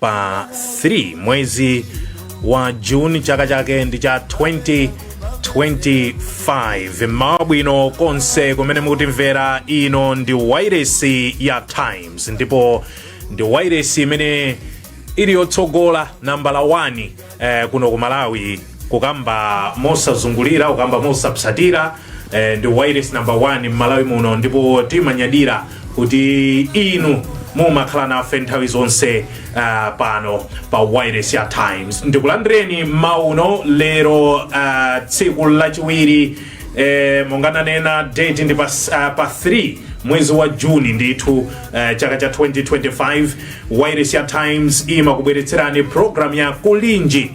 pa 3 mwezi wa juni chaka chake ndi cha 2025 mmawa bwino konse kumene mukutimvera ino ndi wairesi ya times ndipo ndi wairesi imene ili yotsogola nambala 1 eh, kuno ku malawi kukamba mosazungulira kukamba mosapsatira eh, ndi wireless number 1 mmalawi muno ndipo timanyadira kuti inu mumakhala nafe nthawi zonse uh, pano pa wireless ya times ndikulandireni mmawa uno lero uh, tsiku lachiwiri eh, monga nanena date ndi pa, uh, pa 3 mwezi wa juni ndithu uh, chaka cha 2025 wairesi ya times imakubweretserani programu ya kulinji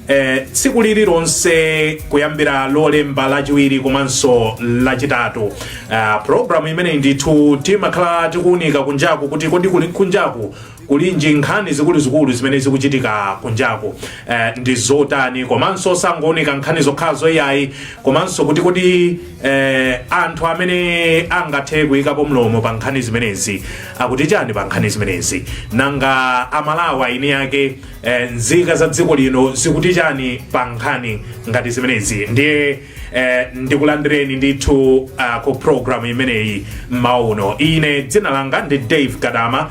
eh, tsiku lililonse kuyambira lolemba lachiwiri komanso lachitatu uh, programu imeneyi ndithu timakhala tikuunika kunjaku kuti kodi kuli kunjaku kulinji nkhani zikuluzikulu zimene zikuchitika kunjaku eh, ndi zotani komanso osangounika nkhani zokhazo iyayi komanso kuti kodi eh, anthu amene angathe kuyikapo mlomo pa nkhani zimenezi akuti chani pa nkhani zimenezi nanga amalawi eni ake eh, nzika za dziko lino zikuti chani pa nkhani ngati zimenezi ndiye eh, ndikulandireni ndithu uh, ku programu imeneyi mmawa uno ine dzina langa ndi dave kadama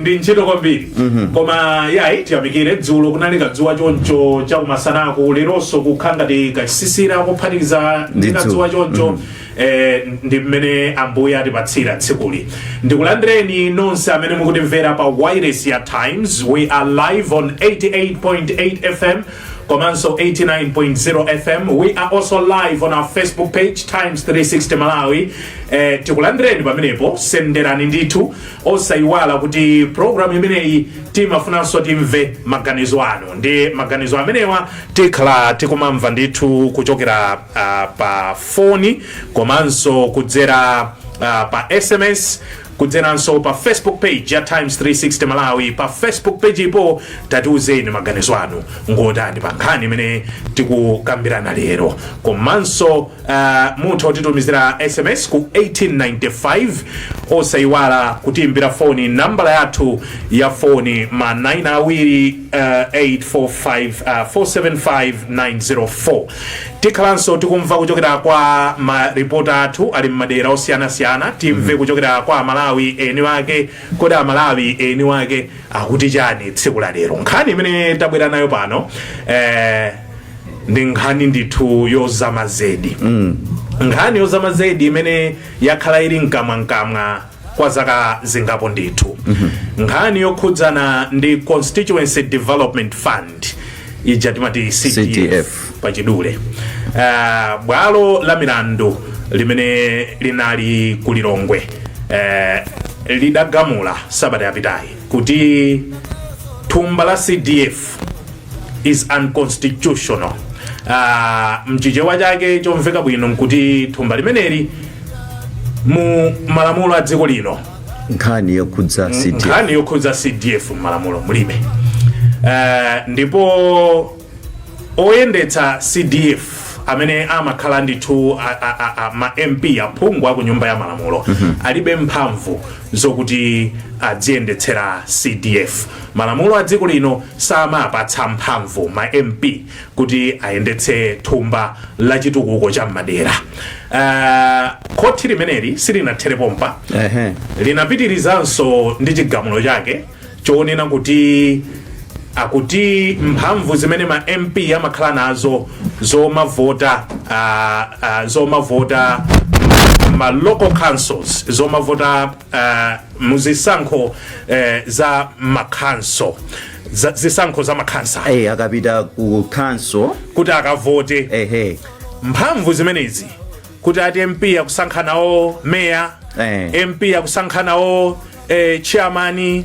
ndi ntchito kwambiri koma yayi tiyamikire dzulo kunali kadzuwa choncho chakumasanaku leronso kukhala ngati kachisisira kophatikiza ndi kadzuwa choncho eh, ndi mmene ambuye atipatsira tsikuli ndikulandireni nonse amene mukutimvera pa wireless ya times we are live on 88.8 fm komanso 89.0 fm we are also live on our facebook page times 360 malawi eh, tikulandireni pamenepo senderani ndithu osayiwala kuti programu imeneyi timafunanso timve maganizo anu nde maganizo amenewa tikhala tikumamva ndithu kuchokera uh, pa foni komanso kudzera uh, pa sms kudzeranso pa Facebook page ya Times 360 Malawi. Pa Facebook pagepo tatiuzeni maganizo anu ngotani pa nkhani imene tikukambirana lero, komanso uh, mutha kutitumizira SMS ku 1895 osayiwala kutiimbira foni nambala yathu ya foni ma 9 awiri 845475904 tikhalanso tikumva kuchokera kwa maripota athu ali mmadera osiyanasiyana timve kuchokera kwa amalawi eni wake kodi amalawi eni wake akuti chani tsiku la lero nkhani imene tabwera nayo pano eh, ndi nkhani ndithu yozama zedi nkhani yozama zedi imene yakhala ili mkamwamkamwa kwa zaka zingapo ndithu nkhani yokhudzana ndi constituency development fund ija timati cdf pachidule uh, bwalo la milandu limene linali ku lilongwe uh, lidagamula sabata yapitayi kuti thumba la cdf is unconstitutional uh, mchichewa chake chomveka bwino nkuti thumba limeneli mu malamulo a dziko lino nkhani yokhudza cdf m'malamulo mulibe Eh, ndipo oyendetsa cdf amene amakhala ndithu a- a- a- a- ma mp aphungu aku nyumba ya malamulo alibe mphamvu zokuti adziyendetsera cdf malamulo a dziko lino samapatsa mphamvu ma mp kuti ayendetse thumba la chitukuko cha m'madera uh, khoti limeneli silinathere pompa Ehe. linapitirizanso ndi chigamulo chake chonena kuti akuti mphamvu zimene ma mp amakhala nazo zomavota uh, uh, zomavota m'ma local councils zomavota uh, muzisankho uh, za makhanso za, zisankho za makhansa eh akapita ku council kuti akavote ehe mphamvu zimenezi kuti ati mp akusankha nawo meya Eh. mp akusankha nawo eh, chairman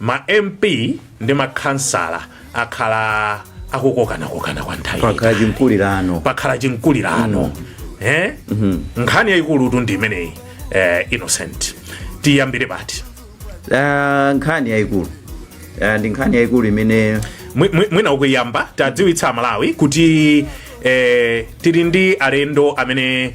ma MP ndi makhansala akhala akukokanakokana kwa nthawi yaitali. pakhala chimkulirano eh? nkhani yayikulutu ndi imeneyi eh, innocent tiyambire pati Ah, nkhani yayikulu Ah, ndi nkhani yayikulu imene Mwi- mwi- mwina poyamba tiwadziwitse amalawi kuti eh, tili ndi alendo amene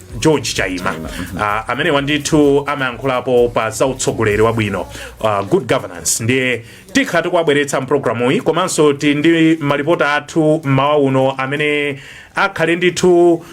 george chaima uh, amenewa ndithu amayankhulapo pa za utsogoleri wabwino uh, good governance ndiye tikhala tikuwabweretsa mpulogalamuyi komanso tili ndi malipota athu mmawa uno amene akhale ndithu uh,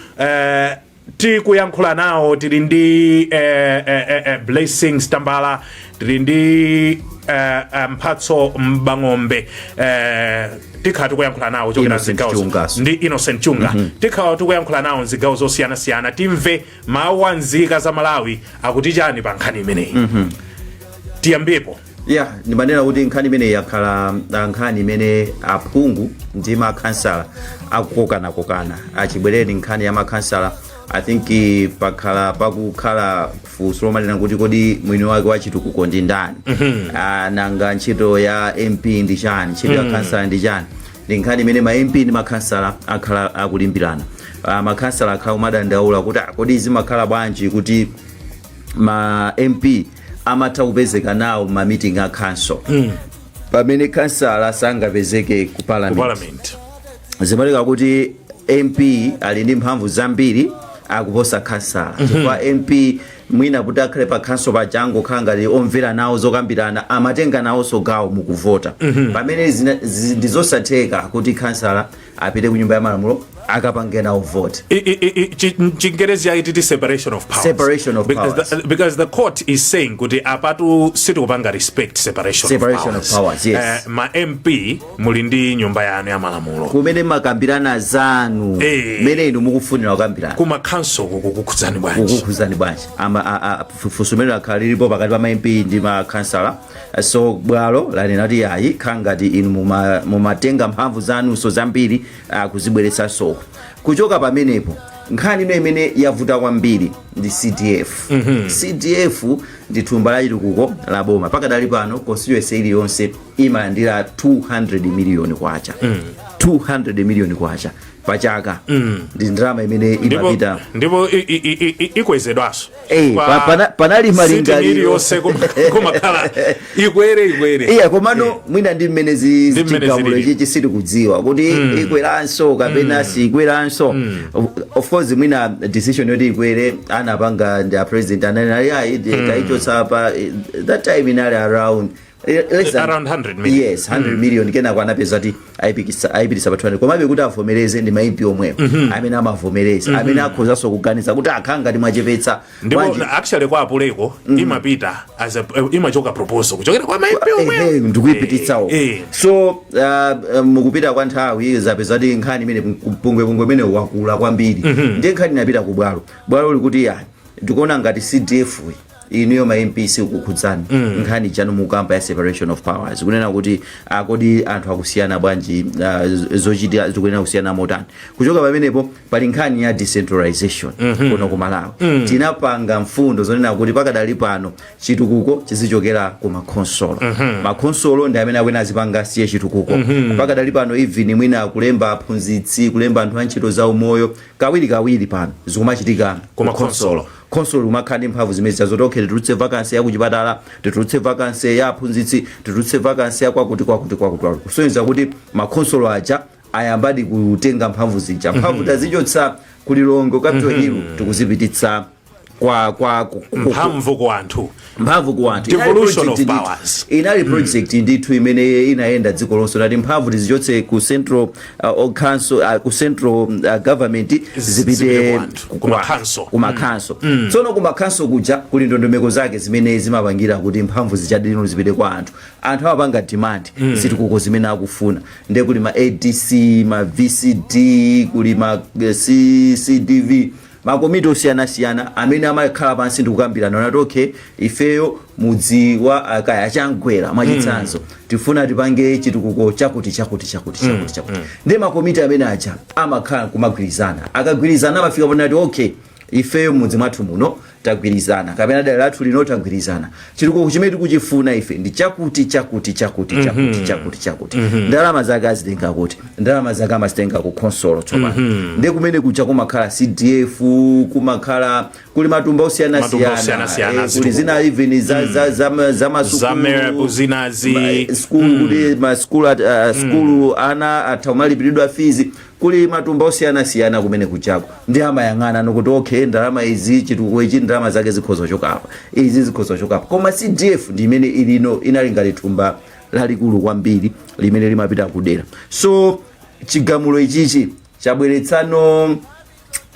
tikuyankhula nawo tili ndi eh, eh, eh, eh, blessings tambala tili ndi eh, eh, mphatso mbang'ombe eh, tikhala tikuyankhula nawo kuchokera mzigawo ndi innocent chunga tikhala tikuyankhula nawo mzigawo zosiyanasiyana timve mawu a nzika za malawi akuti chani pa nkhani imeneyi tiyambepo ya ndimanena kuti nkhani imeneyi yakhala ah, nkhani imene aphungu ndi makhansala akukokanakokana chibwereni nkhani ya makhansala i think eh, pakhala pakukhala funso lomanena kuti kodi mwini wake wa chitukuko ndi ndani nanga ntchito ya mp ndi chani ntchito ya khansala ndi chani ndi nkhani imene ma mp ndi makhansala akhala akulimbirana makhansala akhala kumadandaula kuti kodi zimakhala bwanji kuti ma mp amatha kupezeka nawo ma meeting a council pamene khansala sangapezeke ku ku parliament zimaoneka kuti mp ali ndi mphamvu zambiri akuposa khansala chifukwa mp mwina kuti akhale pa council paja angokhala ngati omvera nawo zokambirana amatenga nawonso gawo mukuvota pamene zina- zi- ndi zosatheka kuti khansala apite ku nyumba ya malamulo akapange nawo vote I- I- I- I- chi- mchingerezi chake titi separation of powers Separation of because, powers. The, because the court is saying kuti apatu sitikupanga respect separation, Separation of powers, yes. Eh, ma mp muli ndi nyumba yanu ya malamulo kumene makambirana zanu Eh. mene inu mukufunira kukambirana kuma council kukukhudzani bwanji kukukhuzani bwanji Ama- a- a- funso limene lakhala lilipo pakati pa ma mp ndi ma khansala so bwalo lanena kuti ayi kukhala ngati inu muma- mumatenga mphamvu zanunso zambiri ah, kuzibweretsanso kuchoka pamenepo nkhani ino imene yavuta kwambiri ndi cdf cdf ndi thumba la chitukuko la boma pakadali pano constituency iliyonse imalandira 200 miliyoni kwacha 200 miliyoni kwacha pa chaka ndi ndalama imene ndipo imapita ndipo i- i- i- i- i- ikwezedwanso Eh, Kwa pa- pana- panali sitini malingaliro. iliyonse kuma- kumakhala ikwere ikwere iya komano mwina ndi mmene zi- Ndi mmene chigamulo zilili. chichi sitikudziwa kuti ikweranso kapena siikweranso Of- of course mwina decision yoti ikwere anapanga ndi a president ananena ayi taichotsa pa eh, that time inali around Eh, less than- Around 100 million. yes 100 million kenako anapezeka kuti ayipikisa- ayipitisa pa 200 komabe kuti avomereze ndi maimpi omwewo amene amavomereza amene akhozanso kuganiza kuti zikukhala ngati mwachepetsa ndipo bwanji- na- actually kwa apuleko imapita as a, eh, imachoka proposal kuchokera kwa maimpi Ehe, omwewo ndikuipititsawo Eh, eh. so uh, uh, mukupita kwa nthawi zapezeka kuti nkhani imene pungwepungwe imene wakula kwambiri ndiye nkhani inapita ku bwalo bwalo likuti ya ndikuona ngati cdf -yi inuyo ma mp sikukukhudzani nkhani yanu mukukamba ya separation of powers kunena kuti ah, kodi anthu akusiyana bwanji ah, z- zochitika zikuyenera kusiyana motani kuchoka pamenepo pali nkhani ya decentralization kuno ku malawi tinapanga mfundo zonena kuti pakadali pano chitukuko chizichokera ku makhonsolo makhonsolo ndi amene akuyenera azipanga say chitukuko pakadali pano even mwina kulemba aphunzitsi kulemba anthu a ntchito za umoyo kawiri kawiri pano zikumachitika Ku makhonsolo. khonsolo likumakhala ndi mphamvu zimenezija zoti okay titulutse vacancy ya kuchipatala titulutse vacancy ya aphunzitsi titulutse vacancy ya kwakuti kwakuti kwakuti kwakuti kusonyeza kuti makhonsolo aja ayambadi kutenga mphamvu zija mphamvu tazichotsa ku Lilongwe Capital Hill tikuzipititsa kwa kwa ku- ku- ku- mphamvu ku anthu mphamvu ku anthu Devolution of powers. inali project ndithu imene inayenda dziko lonse nati mphamvu tizichotse ku central uh, or council uh, ku central uh, government zipite zipite ku anthu, ku ma- khanso. ku makhanso tsono ku makhanso kuja kuli ndondomeko zake zimene zimapangila kuti mphamvu zijadi no zipite kwa anthu anthu amapanga demand zitukuko zimene akufuna nde kuli ma adc ma vcd kuli ma eh, C- cdv makomiti osiyanasiyana amene amakhala pansi ndikukambirana nati okay ifeyo mudzi wa ah, kaya Chamgwera mwachitsanzo tifuna tipange chitukuko chakuti chakuti chakuti chakuti chakuti ndi makomiti amene aja amakhala kumagwirizana akagwirizana amafika ponati okay ifeyo mudzi mwathu muno tagwirizana kapena dera lathu lino tagwirizana chitukuko chimene tikuchifuna ife ndi chakuti chakuti chakuti mhm. chakuti chakuti chakuti mhm. ndalama zake azitenga kuti ndalama zake amazitenga ku khonsolo tsopano mhm. ndi kumene kuja kumakhala cdf kumakhala kuli matumba osiyanasiyana eh, kuli zina even za masukulu zina za sukulu kuti masukulu uh, sukulu ana atha kumalipiridwa fizi kuli matumba osiyanasiyana kumene kujaku ndi amayang'ana no kuti okay ndalama izi chitukuko ichi ndalama zake zikhoza kuchoka apa izi zikhoza kuchoka apa koma cdf ndi imene ilino inali ngati thumba lalikulu kwambiri limene limapita kudera so chigamulo ichichi chabweretsano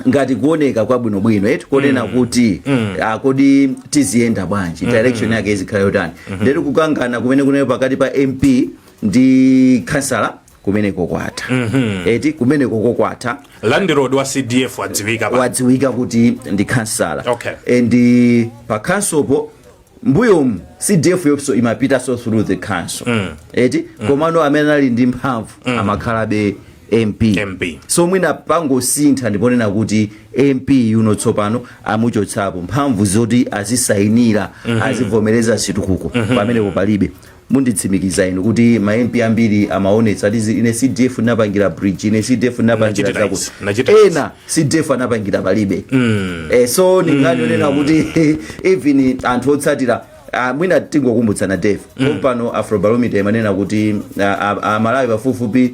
ngati kuoneka kwabwinobwino eti konena kuti ah, kodi tiziyenda bwanji direction yake izikhala yotani ndiye kuti kukangana kumene kunali pakati pa mp ndi khansala kumeneko kwatha mm -hmm. eti kumeneko kwatha landlord wa cdf wadziwika wadziwika kuti ndi khansala okay. and eh, pa khonsolopo mbuyomu cdf yonso imapitanso through the council mm. eti mm. komano amene anali ndi mphamvu mm. amakhalabe mp, MP. so mwina pangosintha ndiponena kuti mp uno tsopano amuchotsapo mphamvu zoti azisayinira mm -hmm. azivomereza zitukuko mm -hmm. pamenepo palibe munditsimikiza inu kuti ma MP ambiri amaonetsa ati zi- ine CDF ndinapangira bridge ine CDF ndinapangira Nachita zakuti izi, nachita izi. ena CDF anapangira palibe eh, so mungaonere kuti even anthu otsatira ah, mwina tingokumbutsana Dave pompano afrobarometer imanena kuti ah, ah, amalawi pafupifupi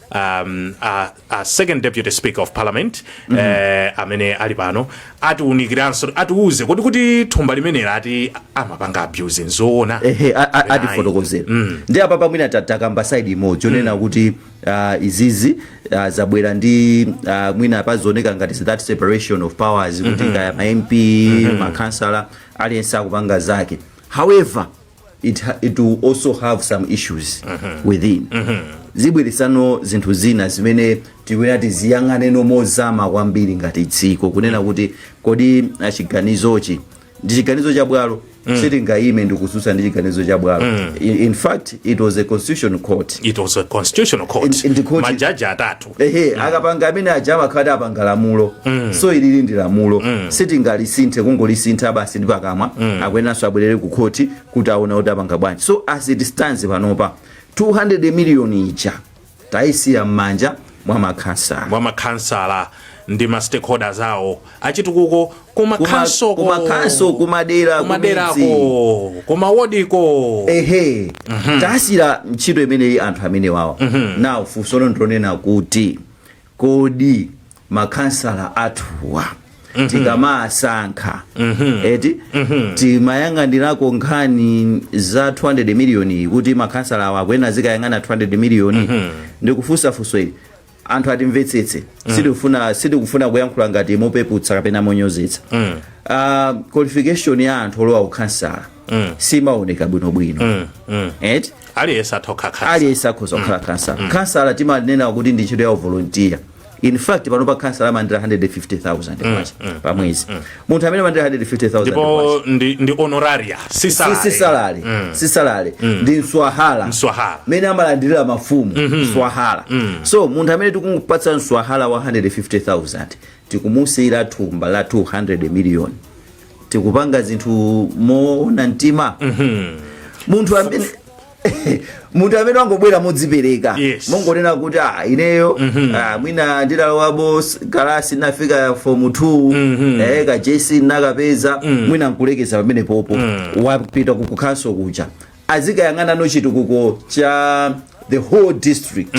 um, a, a second deputy speaker of parliament mm -hmm. eh, amene ali pano atiunikiranso atiuze kodi kuti thumba limeneli ati amapanga abuse nzoona ehe atifotokozere mm. ndi apa pamwina takamba side imodzi yonena mm. kuti uh, izizi uh, zabwera ndi uh, mwina pazioneka ngati that separation of powers kuti mm -hmm. kaya ma mp mm -hmm. makansala aliyense akupanga zake however it, ha- it will also have some issues within zibweresano zinthu zina zimene tikuyenera tiziyang'ane mozama kwambiri ngati dziko kunena kuti kodi ah, chiganizochi ndi chiganizo cha bwalo sitingayime ndikususa ndi chiganizo cha bwalo in, in fact it was a constitutional court it was a constitutional court And- and the court- majaji atatu ehe akapanga amene aja amakhala ati apanga lamulo so ilili ndi lamulo sitingalisinthe kungolisintha basi ndi pakamwa akuyenanso abwerere ku khoti kuti aona kuti apanga bwanji so as it stands panopa 200 million ija tayisiya m'manja mwa makhansala mwa makhansala ndi ma stakeholders awo achitukuko kuma Kuma- khansoko kuma khanso, kumadera, kumaderako kumidzi. kuma wodiko ehe tasiyira ntchito imeneyi anthu amene wawa now funso ndi lonena kuti kodi makhansala athuwa tikamasankha eti timayang'anirako nkhani za 200 miliyoni kuti makhansala awa akuyenera zikayang'ana 200 miliyoni ndikufunsa funso ili anthu atimvetsetse sitikufuna sitikufuna kuyankhula ngati mopeputsa kapena monyozetsa Ah, qualification ya anthu olowa ukhansala simaoneka bwinobwino eti aliyense atokha khansa aliyense akhoza kukhala khansala khansala timanena kuti ndi ntchito ya uvolontiya in fact panopa khansala amalandira 150000 kwacha pa mwezi munthu amene amalandira 150,000 kwacha. ndipo ndi, ndi honoraria si salary. si salale si salale ndi mswahala Mswahala. mene amalandirira mafumu mswahala so munthu amene tikumupatsa mswahala wa 150000 tikumusiyira thumba la 200 million tikupanga zinthu moona mtima munthu amene munthu amene wangobwera modzipereka Yes. mongonena kuti ah, ineyo ah, mwina ndidalowabo s- kalasi nafika fomu 2 eh, ka jc nakapeza mwina nkulekeza pamenepopo wapita ku council kuja azikayang'anano chitukuko cha the whole district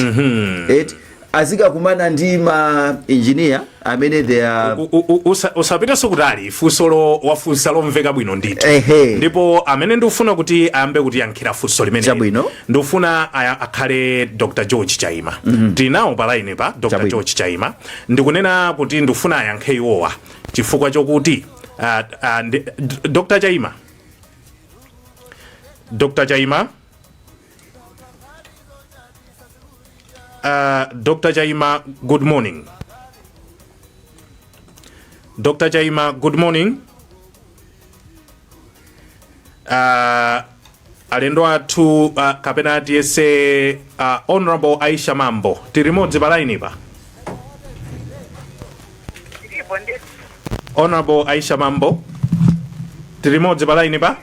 Eti, azikakumana ndi ma engineer amene they are U- u- u- usa- usapitenso kutali funsolo wafunsa lomveka bwino ndithu Ehe. ndipo amene ndikufuna kuti ayambe kutiyankhira funso limeneli Chabwino. ndikufuna aya- akhale dr george chaima tili nawo pa line pa dr Chabwino. george chaima ndikunena kuti ndikufuna ayankhe iwowa chifukwa chokuti ah, ah, ndi- d- dr chaima dr chaima Uh, Dr. Chaima, good morning. Dr. Chaima, good morning. Uh, alendo athu uh, kapena tiyese uh, honorable aisha mambo tiri modzi pa line pa Ndipo ndi honorable aisha mambo tili limodzi pa lainipa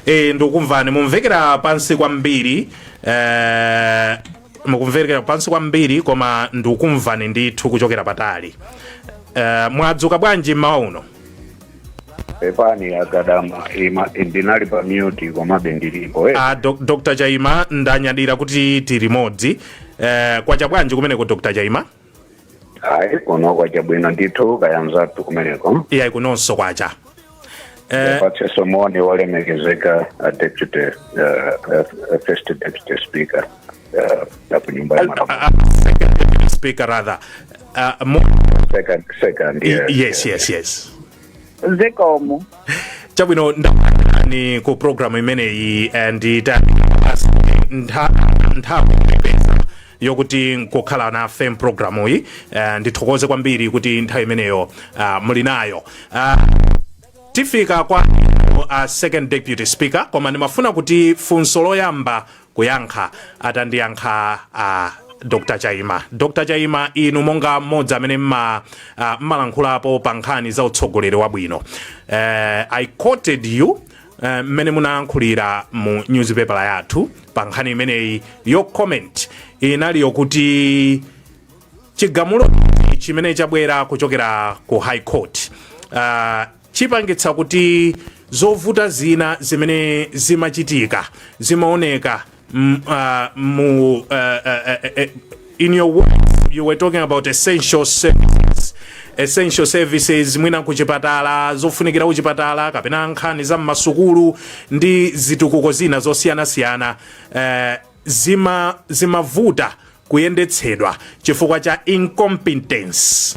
e, ndikukumvani mukumvekera pansi kwambiri eh, mukumvekera pansi kwambiri koma ndikukumvani ndithu kuchokera patali eh, mwadzuka bwanji mmawa uno pepani a Gadama ndinali pa mute komabe ndilipo eh. a Doc- dr chaima ndanyadira kuti tili limodzi eh, kwacha bwanji kumeneko dr chaima ayi kuno kwacha bwino ndithu kayanzatu kumeneko iyayi kunonso kwacha eh, patseso moni wolemekezeka a deputy uh, uh, first deputy speaker uh, nyumba ya malamulo. Second deputy speaker rather. Uh, mo- Second, second, yes, yes, yes, yes. zikomo chabwino ndalandireni ku programu imeneyi and ita ntha- nthawi yoipeza yokuti nkukhala nafe mpulogalamu iyi eh, ndithokoze kwambiri kuti nthawi imeneyo ah, muli nayo Ah, tifika kwa inu second deputy speaker koma ndimafuna kuti funso loyamba kuyankha atandiyankha a dr chaima dr chaima inu monga mmodzi amene mma- ah, mmalankhulapo pa nkhani za utsogoleri wabwino eh, i quoted you eh, mmene munayankhulira mu newspaper yathu pa nkhani imeneyi your comment inali yokuti chigamulo chimene chabwera kuchokera ku high court uh, chipangitsa kuti zovuta zina zimene zimachitika zimaoneka mm, ah, mu eh, eh, eh, eh, in your words you were talking about essential services essential services mwina kuchipatala zofunikira kuchipatala kapena nkhani za mmasukulu ndi zitukuko zina zosiyanasiyana eh, zima zimavuta kuyendetsedwa chifukwa cha incompetence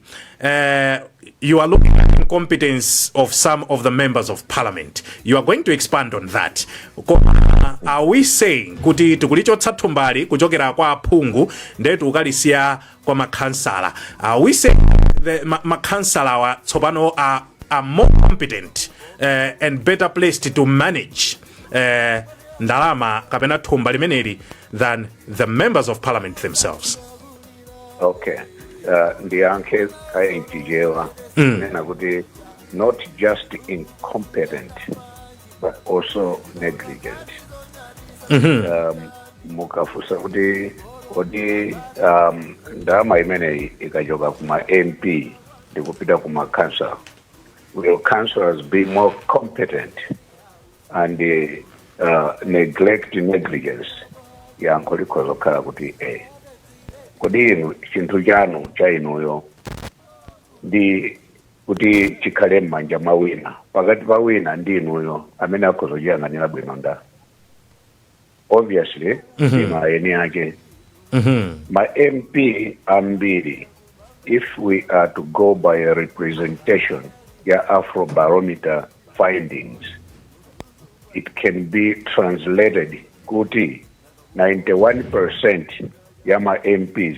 Uh, you are looking at incompetence of some of the members of parliament. You are going to expand on that. Koma, are we saying kuti tikulichotsa thumbali kuchokera kwa aphungu ndiye tiukalisiya kwa makhansala? Are we saying the ma- makhansalawa tsopano are, are more competent uh, and better placed to manage uh, ndalama kapena thumba limeneli than the members of parliament themselves? okay uh, ndiyankhe kaye mchichewa Mm. kunena kuti not just incompetent but also negligent Mhm. um, mukafunsa kuti kodi um, ndalama imeneyi ikachoka kuma mp ndikupita kuma council will councils be more competent and uh, neglect negligence yankho likhoza kukhala kuti e kodi inu chinthu chanu cha inuyo ndi kuti chikhale m'manja mwa wina pakati pa wina ndi inuyo amene akhoza kuchiyang'anira bwino nda obviously mm -hmm. ma eni ake mm -hmm. ma mp ambiri if we are to go by a representation ya afrobarometer findings it can be translated kuti 91% ya ma mps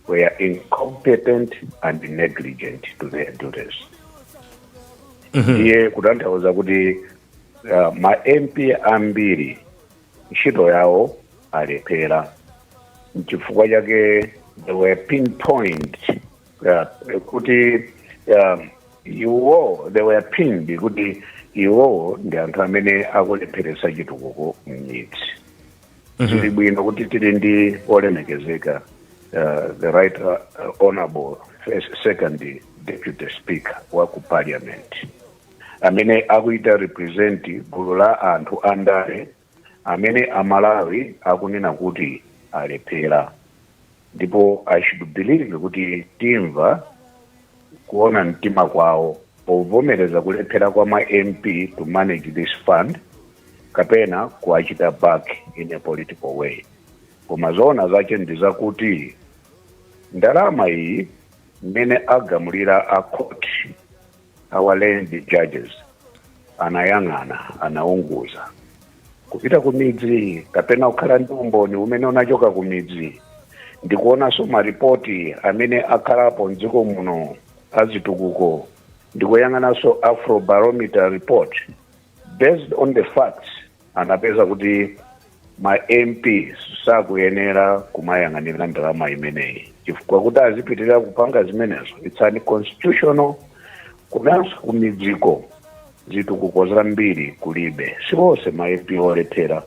were incompetent and negligent to their duties iye kutanthauza kuti uh, ma mp ambiri ntchito yawo alephera nchifukwa chake they were pinpoint uh, kuti um, iwo they were pinned kuti iwowo ndi anthu amene akulepheretsa chitukuko m'midzi zili bwino kuti tili ndi olemekezeka uh, the right uh, honorable first, second deputy speaker wa ku parliament amene akuita represent gulu la anthu andale amene amalawi akunena kuti alephera ndipo i should believe kuti timva kuona mtima kwawo povomereza kulephera kwa ma mp to manage this fund kapena kuwachita back in a political way koma zoona zache ndi zakuti ndalama iyi mmene agamulira a court Our learned judges anayang'ana, anaunguza kupita ku midzi kapena kukhala ndi umboni umene unachoka ku midzi ndikuonanso maripoti amene akhalapo mdziko muno azitukuko ndikuyang'ananso afrobarometer report based on the facts anapeza kuti ma mp sakuyenera kumayang'anira ndalama imeneyi chifukwa kuti azipitirira kupanga zimenezo it's unconstitutional komanso kumidziko zitukuko zambiri kulibe siwonse ma mp olephera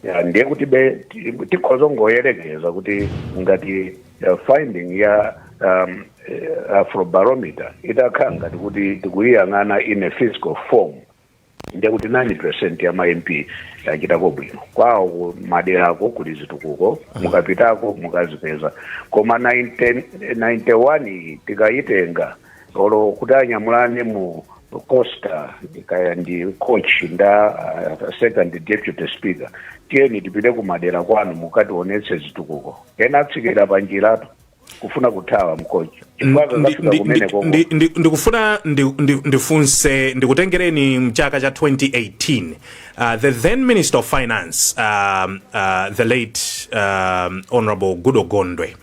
Ya, ndiye kuti be ti- tikhoza kungoyerekeza kuti ngati uh, finding ya um, eh, afrobarometer itakhala ngati kuti tikuyiyang'ana in a physical form Ndiye kuti 9 percent ya ma MP yachitako bwino kwawo ku maderako kuli zitukuko mukapitako mukazipeza koma 90 91 iyi tikayitenga olo kuti anyamulane mu coaster kaya ndi coach ndi a uh, second deputy speaker tiyeni tipite ku madera kwanu mukationetse zitukuko ena atsikira panjiratu kufuna kuthawa mu coach chifukwa Ndi- akakafika ndi- kumene ndi- koko ndi- ndi- ndikufuna ndi- ndi- ndifunse ndikutengereni mchaka cha 2018 uh, the then minister of finance um, uh, the late um, honorable goodall gondwe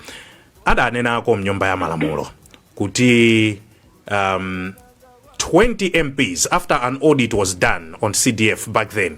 adanenako mnyumba ya malamulo kuti um, 20 mps after an audit was done on cdf back then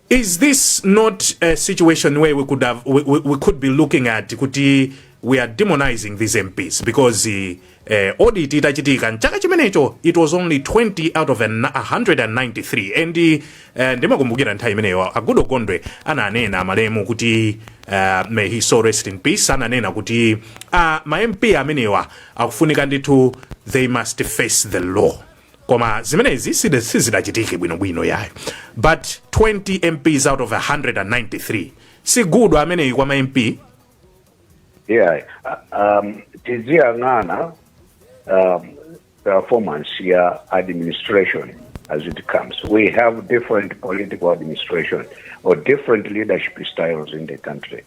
Is this not a situation where we could have we, we, we could be looking at kuti we are demonizing these MPs because uh, audit itachitika mchaka chimenecho it was only 20 out of 193 and uh, ndimakumbukira nthawi imeneyo a Goodall Gondwe ananena amalemu kuti uh, may his soul rest in peace ananena kuti uh, ma MP amenewa akufunika ndithu they must face the law koma zimenezi side- sizidachitike bwinobwino yayo but 20 mps out of 193 si good ameneyi kwa ma mp yeah uh, um, tiziyang'ana um, performance ya administration as it comes we have different political administration or different leadership styles in the country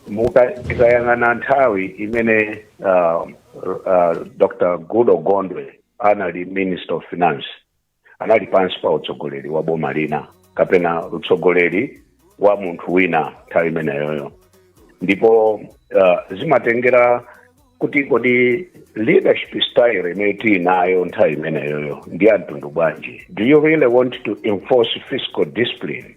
Muka- tikayang'ana nthawi imene um, uh, dr Goodall Gondwe anali minister of finance anali pansi pa utsogoleri wa boma lina kapena utsogoleri wa munthu wina nthawi imeneyoyo ndipo uh, zimatengera kuti kodi leadership style imene tili nayo nthawi imeneyoyo ndi ya mtundu bwanji do you really want to enforce fiscal discipline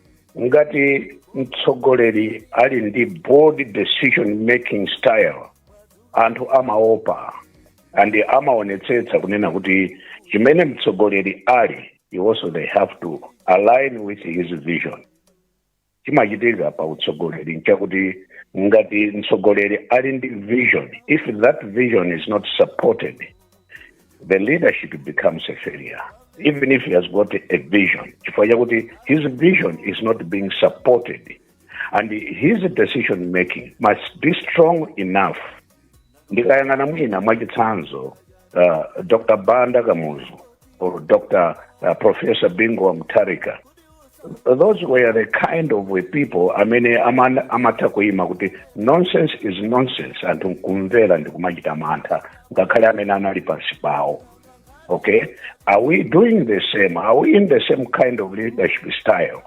ngati mtsogoleri ali ndi bold decision making style anthu amaopa and amaonetsetsa kunena kuti chimene mtsogoleri ali iwonso they have to align with his vision chimachitika pa utsogoleri nchakuti ngati mtsogoleri ali ndi vision if that vision is not supported the leadership becomes a failure even if he has got a vision chifukwa chakuti his vision is not being supported and his decision making must be strong enough ndikayang'ana mwina mwachitsanzo uh, dr banda kamuzu or Dr. Uh, Professor Bingu wa Mutharika. Those were the kind of people amene aman- amatha kuima kuti nonsense is nonsense anthu nkumvera ndi kumachita mantha ngakhale amene anali pansi pawo okay are we doing the same are we in the same kind of leadership style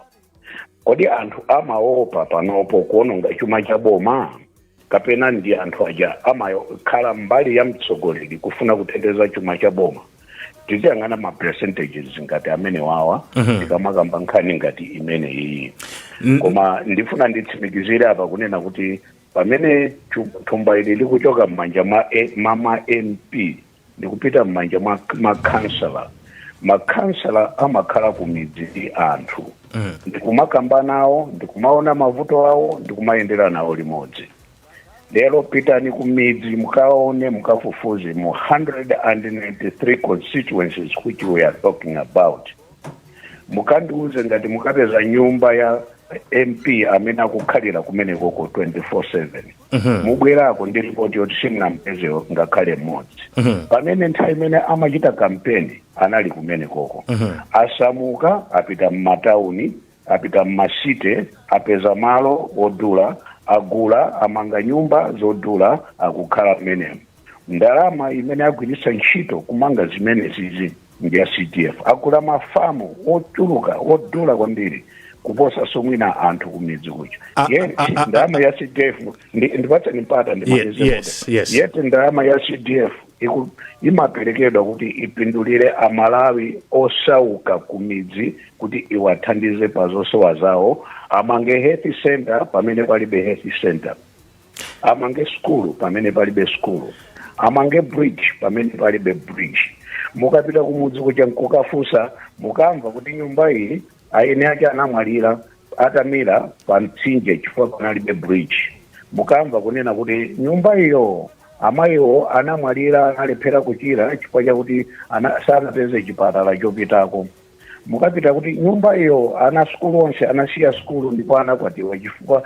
kodi anthu amaopa panopo kuononga chuma cha boma kapena ndi anthu aja amakhala mbali ya mtsogoleri kufuna kuteteza chuma cha boma tiziyang'ana ma percentages ngati amenewawa Mhm. tikamakamba nkhani ngati imene iyi N- koma ndifuna nditsimikizire apa kunena kuti pamene chu- thumba ili likuchoka m'manja mwa A- mwa ma mp ndikupita m'manja mwa makhansala makhansala amakhala ku midzi ndi anthu mm. ndikumakamba nawo ndikumaona mavuto awo ndikumayendera nawo limodzi lero pitani ku midzi mukaone mukafufuze mu 193 constituencies which we are talking about mukandiuze ngati mukapeza nyumba ya mp amene akukhalira kumenekoko 24/7 Mhm. mubwerako ndi ripoti yoti simunampeze ngakhale mmodzi Mhm. pamene nthawi imene amachita kampeni anali kumene koko Mhm. asamuka apita m'matauni apita m'masite apeza malo odula agula amanga nyumba zodula akukhala mmenemo Ndalama imene agwiritsa ntchito kumanga zimenezizi ndi ya CDF. Agula mafamu ochuluka odula kwambiri kuposa mwina anthu kumidzi kuja. Ah, ah, Yet ndalama ya CDF ndi- ndipatseni mpata ndimalize Yes. Yet ndalama ya CDF iku- imaperekedwa kuti ipindulire amalawi osauka kumidzi kuti iwathandize pa zosowa zawo amange health center pamene palibe health center amange sukulu pamene palibe sukulu amange bridge pamene palibe bridge mukapita kumudzi kuja nkukafunsa mukamva kuti nyumba iyi eni ake anamwalira atamira pa mtsinje chifukwa panalibe bridge mukamva kunena kuti nyumba iyo amayiwo anamwalira analephera kuchira chifukwa chakuti ana- sanapeze chipatala chopitako mukapita kuti nyumba iyo ana sukulu onse anasiya sukulu ndipo anakwatiwa chifukwa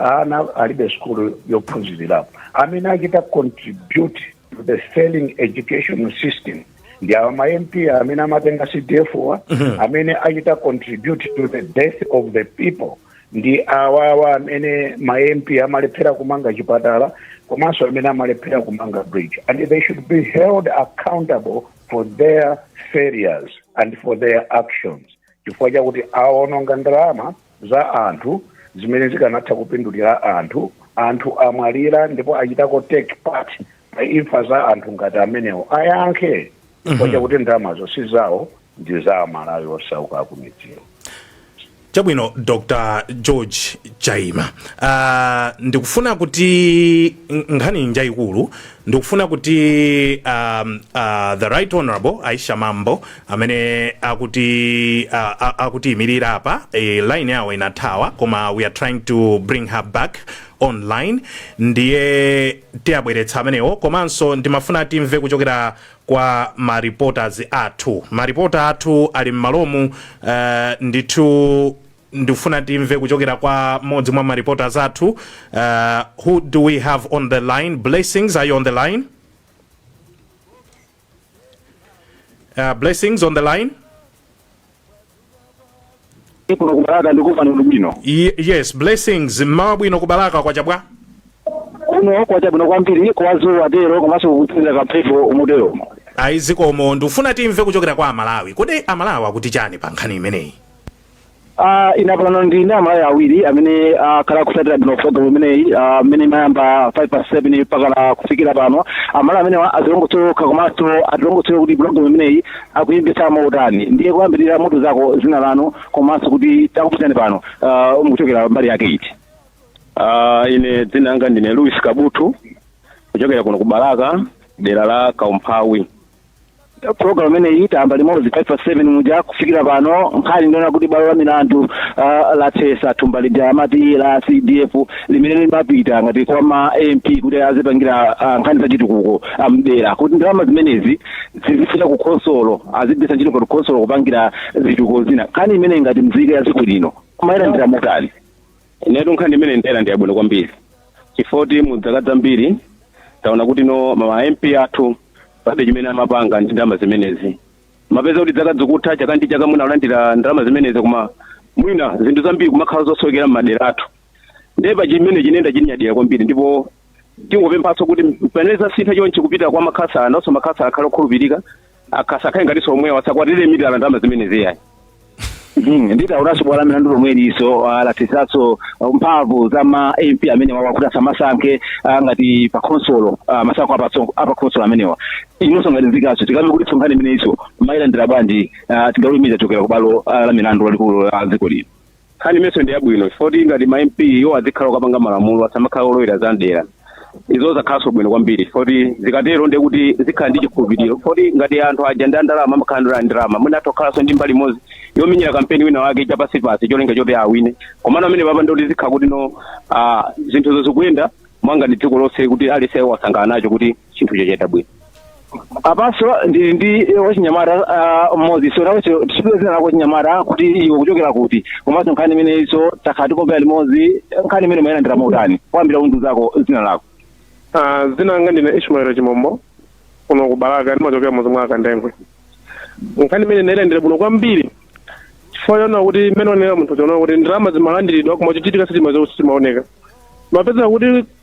ana alibe sukulu yophunzirirapo amene achita contribute to the failing education system ndi awa ma mp amene amatenga cdf wa amene achita contribute to the death of the people ndi awawa amene ma mp amalephera kumanga chipatala komanso amene amalephera kumanga bridge and they should be held accountable for their failures and for their actions chifukwa chakuti awononga ndalama za anthu zimene zikanatha kupindulira anthu anthu amwalira ndipo achitako take part pa imfa za anthu ngati amenewo ayankhe chifukwa chakuti ndalamazo si zawo ndi za amalawi osauka akumidziwo chabwino dr george chaima uh, ndikufuna kuti n- nkhani njayikulu ndikufuna kuti um, uh, the right honorable aisha mambo amene akuti uh, a- akutiyimirira apa e, line yawo inathawa koma we are trying to bring her back online ndiye tiwabweretsa amenewo komanso ndimafuna timve kuchokera kwa ma reporters athu ma reporter athu ali mmalomu uh, ndithu ndikufuna timve kuchokera kwa mmodzi mwa ma reporters athu uh, who do we have on the line blessings are you on the line uh, blessings on the line kuno kubalaka ndikumva inu bwino Ye- yes blessings mmawa wabwino kubalaka kwacha bwa kuno kwacha bwino kwambiri kwazuwa tero komanso kukutsira kamphepo motero ayi zikomo ndikufuna timve kuchokera kwa amalawi kodi amalawi akuti chani pa nkhani imeneyi Ah, ina pano ndi ndi amalawi awiri amene akhala akutsatira bwino programu imeneyi ah, amene imayamba 5 past 7 mpakana kufikira pano amalawi amenewa adzilongosola komanso atilongosolera kuti programu imeneyi akuimvetsa motani ndiye kuyambirira mutiuzeko dzina lanu komanso kuti takupezani pano uh, mukuchokera mbali yake iti Ah, ine dzina langa ndine Louis Kabutu kuchokera kuno ku Balaka dera la Kaumphawi. program imeneyi tayamba limodzi 5 past 7 muja kufikira pano nkhani ndi yonena kuti bwalo la milandu uh, lathetsa thumba lija amati la cdf limene limapita ngati kwa ma mp kuti azipangira uh, nkhani zachitukuko m'dera kuti ndalama zimenezi zizifika ku khonsolo azigwiritsa ntchito ngati khonsolo kupangira zitukuko zina nkhani imene ngati mzika ya dziko lino mwayilandira motani inetu nkhani imene ndayilandira bwino kwambiri chifukwa choti mu dzaka zambiri taona kuti no ma mp athu palibe chimene amapanga ndi ndalama zimenezi umapeza kuti dzaka zikutha chaka ndi chaka mwina alandira ndalama zimenezi koma mwina zinthu zambiri kumakhala zosowekera m'madera athu ndiye pa chimene chi ine ndachinyadira kwambiri ndipo tingopemphanso kuti pamene zasintha chonchi kupita kwa makhansala nawonso makhansala akhale okhulupirika akasakhale ngatinso omwewa asakatidyerenso ndalama zimenezi yayi Mhm, ndi taonanso bwalo la milandu lomweliso lathetsanso mphamvu za ma mp amenewa akuti asamasankhe ah, ngati pa khonsolo ah, masankho apatso- apa khonsolo amenewa inonso ngati mzikaso tikambe kuti so nkhani imeneiso mwayilandira bwanji ah, chigamulo chochokera kubwalo ah, la milandu lalikulu la dziko lino Nkhani imeneyinso ndi yabwino chifukwa choti ngati ma MP iwo azikhala okapanga malamulo asamakhala olowera za mdera. Izo zakhalanso bwino kwambiri chifukwa choti zikatero ndiye kuti zikhala ndi chikhulupiriro chifukwa choti ngati anthu aja ndi andalama amakhala ali ndi ndalama mwina atha kukhalanso ndi mbali imodzi yomenyera kampeni wina wake chapansipansi cholinga choti awine. Komano pamenepapa ndiye kuti zikhala kuti no ah, zinthu zikuyenda mwangati dziko lonse kuti aliyense wasangalala nacho kuti chinthu chachitika bwino apanso ndili ndi wachinyamata ah, mmodzi so nawe tidziwe dzina lako wachinyamata kuti iwe ukuchokera kuti komanso nkhani imeneyinso takhala tikumvera limodzi nkhani imene wayilandira motani koyambirira undiuzeko dzina lako Ah, dzina langa ndine ishmael chimombo kuno ku balaka ndimachokera mudzi mwa akandengwe nkhani imene ndailandira bwino kwambiri chifukwa chonena kuti mmene wanenera mnzathu chonena kuti ndalama zimalandiridwa koma chochitika sichimaoneka umapeza kuti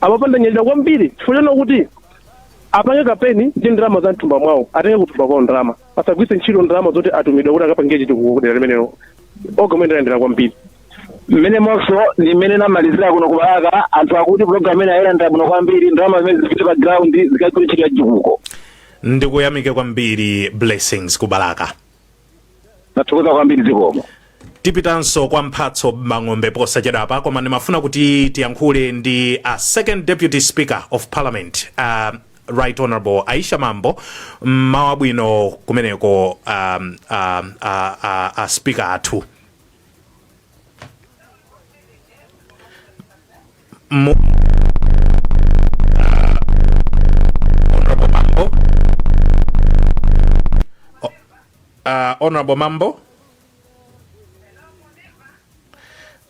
apapa ndanyadira kwambiri chifukwa chonena kuti apange kampeni ndi ndalama za mthumba mwawo atenge kuthumba kwawo ndalama asagwiritse ntchito ndalama zoti atumidwa kuti akapange chitukuko kudera limenelo nkhani imene ndayilandira kwambiri mmene monso ndi mmene ndamalizira kuno kubalaka anthu akuti programu imene ayilandira bwino kwambiri ndalama zimene zipite pa ground zikagwire ntchito ya chitukuko ndikuyamike kwambiri blessings kubalaka tathokoza kwambiri zikomo tipitanso kwa mphatso mbang'ombe posachedwapa koma ndimafuna kuti tiyankhule ndi a second deputy speaker of parliament uh, right honorable aisha mambo mmawa wabwino kumeneko um, um, uh, uh, uh, speaker athu Mo- Ah, Honorable Mambo. O- ah, Honorable Mambo.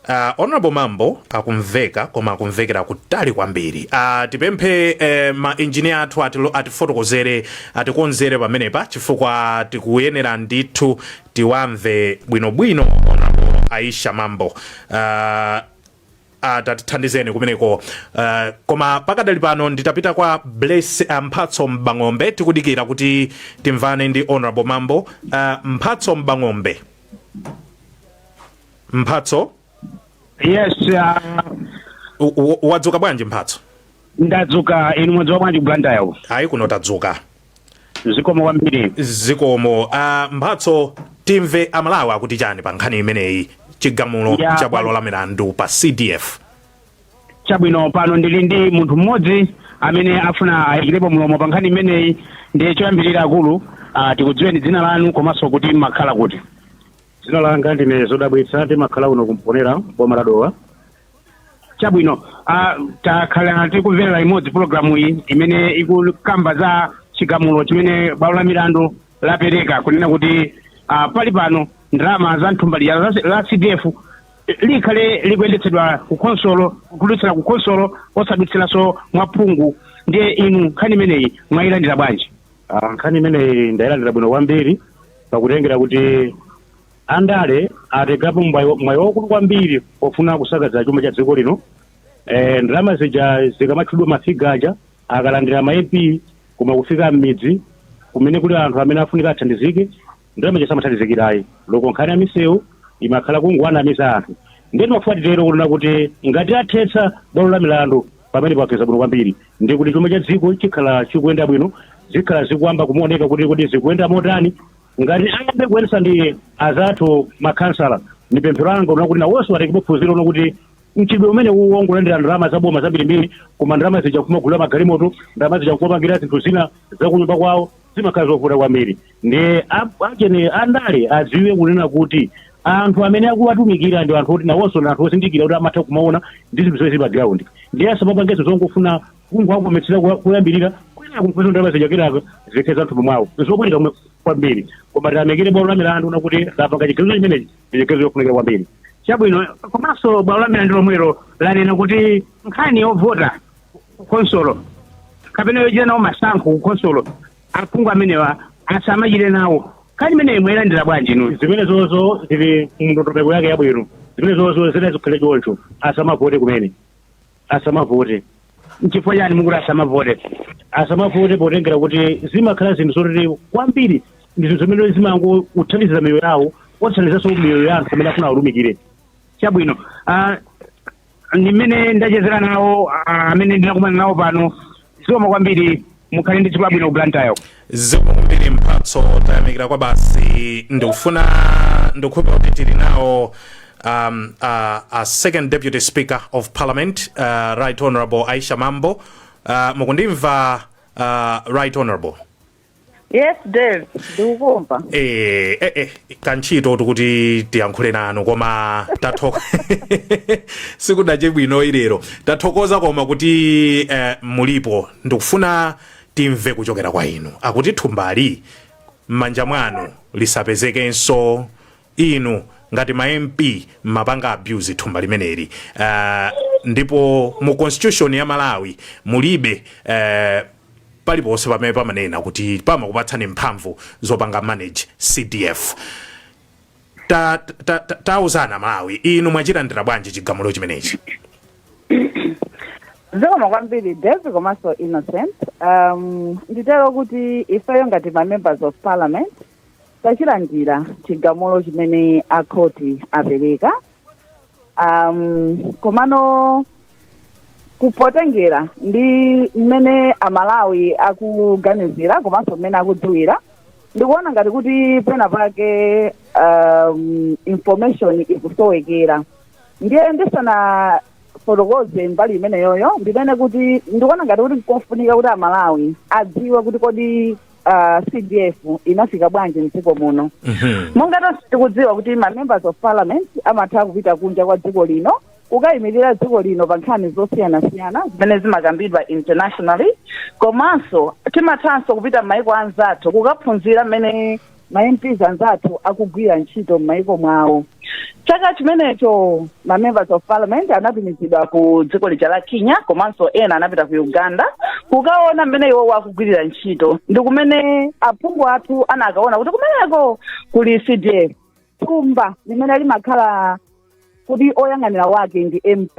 Uh, honorable mambo akumveka koma akumvekera kutali kwambiri uh, tipemphe eh, ma engineer athu atilo- atifotokozere atikonzere pamenepa chifukwa tikuyenera ndithu tiwamve bwinobwino honorable aisha mambo uh, Ah, tatithandizeni kumeneko uh, koma pakadali pano nditapita kwa bless uh, mphatso mbang'ombe tikudikira kuti timvane ndi honorable mambo uh, mphatso mbang'ombe mphatso yes uh, u- u- wadzuka bwanji mphatso ndadzuka inu mwadzuka bwanji blantyre ayi kuno tadzuka zikomo kwambiri zikomo a mphatso timve amalawi akuti chani pa nkhani imeneyi chigamulo Ya, cha bwalo la milandu pa cdf chabwino pano ndili ndi munthu mmodzi amene afuna ayikirepo mlomo pa nkhani imeneyi ndiye choyambirira akulu ah, tikudziweni dzina lanu komanso kuti mmakhala kuti dzina langa ndine zodabwitsa ndimakhala kuno ku mponela boma la dowa chabwino ah, takhala tikumvera imodzi pulogalamu iyi imene ikukamba za chigamulo chimene bwalo la milandu lapereka kunena kuti ah, pali pano ndalama za m'thumba lija la, la cdf likhale likuyendetsedwa ku khonsolo kudutsira ku khonsolo osadutsiranso mwa phungu ndiye inu nkhani imeneyi mwayilandira bwanji Ah, nkhani imeneyi ndayilandira bwino kwambiri pakutengera kuti Andale atengapo mwayi mwayi waukulu kwambiri pofuna kusakaza chuma cha dziko lino. Eh, ndalama zija zikamatchulidwa mafiga aja akalandira ma MP koma kufika m'midzi kumene kuli anthu amene afunika athandizike ndalama zija samathandizika ayi loko nkhani ya misewu imakhala kungowanamiza anthu ndiye timafuna titero kunena kuti ngati athetsa bwalo la milandu pamenepa achita bwino kwambiri ndi kuti chuma cha dziko chikhala chikuyenda bwino zikhala zikuyamba kuoneka kuti kodi zikuyenda motani Ngati ayambe kuyendesa ndi azathu ma khansala ndi pemphero langa ndi lonena kuti nawoso atengepo phunziro lonena kuti mchitidwe umenewu wongolandira ndalama za boma zambirimbiri koma ndalama zija nkumagulira magalimoto, ndalama zija nkumapangira zinthu zina za kunyumba kwawo zimakhala zovuta kwambiri ndiye achene andale adziwe kunena kuti anthu amene akuwatumikira ndi anthu oti nawoso ndi anthu ozindikira kuti amatha kumaona ndi zinthu zimene zili pa ground ndiye asamapange zongofuna Kungowakometsera kumayambiriro kwinaku n'kupeza kuti ndalama zija kenaka zithera m'thumba mwawo n'zovuta komwe kwambiri. Koma tiyamikire bwalo la milandu lakuti lapanga chigamulo chimenechi ndi chigamulo chofunikira kwambiri. Chabwino, komanso bwalo la milandu lomwelo lanena kuti nkhani yovota ku khonsolo kapena yochita nawo masankho ku khonsolo aphungu amenewa asamachite nawo. Nkhani imeneyi mwayilandira bwanji inuyo? Zimenezozo zili mu ndondomeko yake yabwino. Zimenezozo zinazikhale choncho, asamavote kumene. asamavote nchifukwa chani mukuti asamavote asamavote potengera kuti zimakhala zinthu zoti kwambiri ndi zinthu zimene zimangothandizira miyoyo yawo osathandizanso miyoyo ya anthu amene akufuna awatumikire chabwino ah, ndimene ndachezera nawo ah, amene ndinakumana nawo pano zikomo kwambiri mukhale ndi tsiku labwino ku blantyre zikomo kwambiri mphatso tayamikira kwa basi ndikufuna ndikhulupirira kuti tili nawo um, uh, a second deputy speaker of parliament uh, right honorable aisha mambo uh, mukundimva uh, right honorable yes dave ndikukumva eh, eh, eh, kantchito tikuti tiyankhule nanu koma tathoka sikunache bwino ilero tathokoza koma kuti eh, mulipo ndikufuna timve kuchokera kwa inu akuti thumbali m'manja mwanu lisapezekenso inu ngati ma mp mmapanga abuse thumba limeneli uh, ndipo mu constitution ya malawi mulibe uh, paliponse pamene pamanena kuti pamakupatsani mphamvu zopanga manage CDF. Ta, ta, ta, tauzani aMalawi inu mwachilandira bwanji chigamulo chimenechi? zikomo kwambiri devi komanso innocent um, nditero kuti ifeyo ngati ma members of parliament tachilandira chigamulo chimene akhoti apereka um, komano potengera ndi mmene amalawi akuganizira komanso mmene akudziwira ndikuona ngati kuti pena pake um, information ikusowekera ndiye ndisanafotokoze mbali imeneyoyo ndinene kuti ndikuona ngati kuti nkofunika kuti amalawi adziwe kuti kodi ah, cdf inafika bwanji mdziko muno Mhm. monga tonse tikudziwa kuti ma members of parliament amatha kupita kunja kwa dziko lino kukayimirira dziko lino pa nkhani zosiyanasiyana zimene zimakambidwa internationally komanso timathanso kupita m'mayiko anzathu kukaphunzira mmene ma mps anzathu akugwirira ntchito m'mayiko mwawo chaka chimenecho ma members of parliament anatumizidwa ku dziko lija la kenya komanso ena anapita ku uganda kukaona mmene iwowo akugwirira ntchito ndi kumene aphungu athu anakaona kuti kumeneko kuli cdf thumba limene limakhala kuti oyang'anira wake ndi mp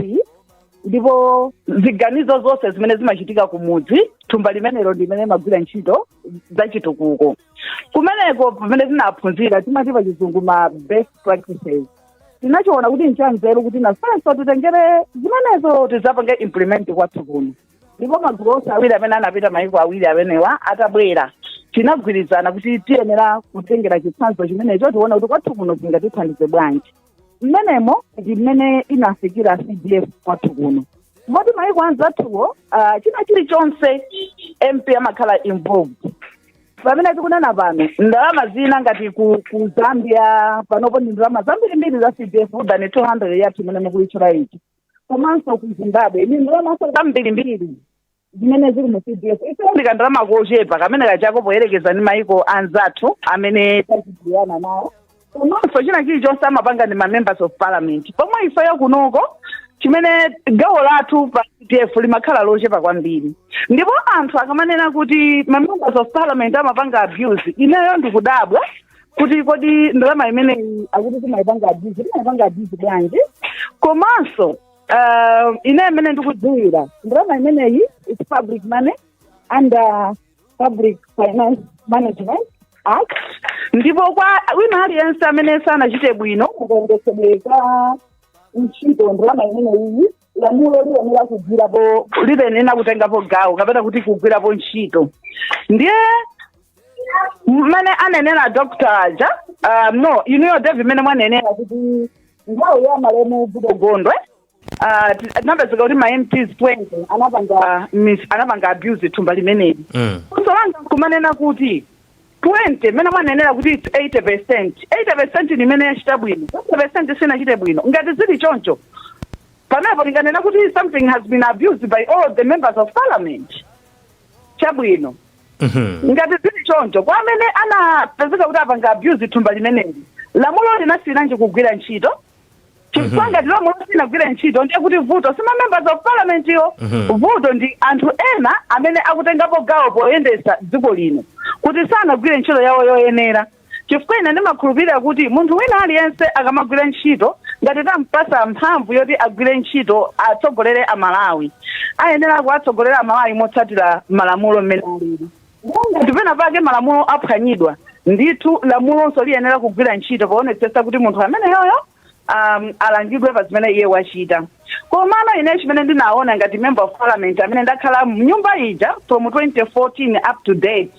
ndipo ziganizo zonse zimene zimachitika kumudzi thumba limenelo ndi limene limagwira ntchito zachitukuko kumeneko pamene tinaphunzira timati pa chizungu ma best practices tinachiona kuti nchanzeru kuti nafenso titengere zimenezo tidzapange implement kwathu kuno ndipo magulu onse awiri amene anapita mayiko awiri amenewa atabwera tinagwirizana kuti tiyenera kutengera chitsanzo chimenecho tiona kuti kwathu kuno zingatithandize bwanji mmenemo ndi mmene inafikira cdf kwathu kuno moti maiko anzathuwo uh, china chilichonse mp amakhala involved pamene tikunena pano ndalama zina ngati ku, ku zambia panopo ndi ndalama zambirimbiri za cdf than 200 yathu imene mukuitchulayi komanso ku zimbabwe ndi ndalamanso zambirimbiri zimene zili mu cdf ife ndi kandalama kochepa kamene kachepako poyerekeza ndi maiko anzathu amene tayandikana nawo komanso china chilichonse amapanga ndi mamembers of parliament pomwe ifeyo kunoko chimene gawo lathu pa cdf limakhala lochepa kwambiri ndipo anthu akamanena kuti mamembers of parliament amapanga abuse ineyo ndikudabwa kuti kodi ndalama imeneyi akuti timayipanga abuse timayipanga abuse bwanji komanso Uh, ine mmene ndikudziwira ndalama imeneyi is public money under public finance management act ndipo kwa wina aliyense amene sanachite bwino kagwiritsidwe ntchito ndalama imeneyi lamulo liyenera kugwirapo liyenera kutengapo gawo kapena kuti kugwirapo ntchito ndiye mmene anenera dr aja uh, no inuyo devi mmene mwanenera kuti nthawi ya malemu goodall gondwe ah, ti- tinapezeka kuti ma mps 20 anapanga mis- anapanga abuse thumba limeneli Mm. funso langa nkumanena kuti 20 mmene mwanenera kuti its 80 percent 80 percent ni imene yachita bwino 20 percent sinachite bwino ngati zili choncho pamenepo tinganena kuti something has been abused by all the members of parliament chabwino Mhm. ngati zili choncho kwa amene anapezeka kuti apanga abuse thumba limeneli lamulo linasiyiranji kugwira ntchito chifukwa ngati lamulo silinagwire ntchito ndiye kuti vuto si mamembers of parliament wo Mhm. vuto ndi anthu ena amene akutengapo gawo poyendetsa dziko lino kuti sanagwire ntchito yawo yoyenera chifukwa ine ndimakhulupirira kuti munthu wina aliyense akamagwira ntchito ngati tampasa mphamvu yoti agwire ntchito atsogolere amalawi ayenera kuwatsogolera amalawi motsatira malamulo mmene alili ngati pena pake malamulo aphwanyidwa ndithu lamulonso liyenera kugwira ntchito poonetsetsa kuti munthu ameneyoyo um, alangidwe pa zimene iye wachita komano ine chimene ndinaona ngati member of parliament amene ndakhala mnyumba ija from 2014 up to date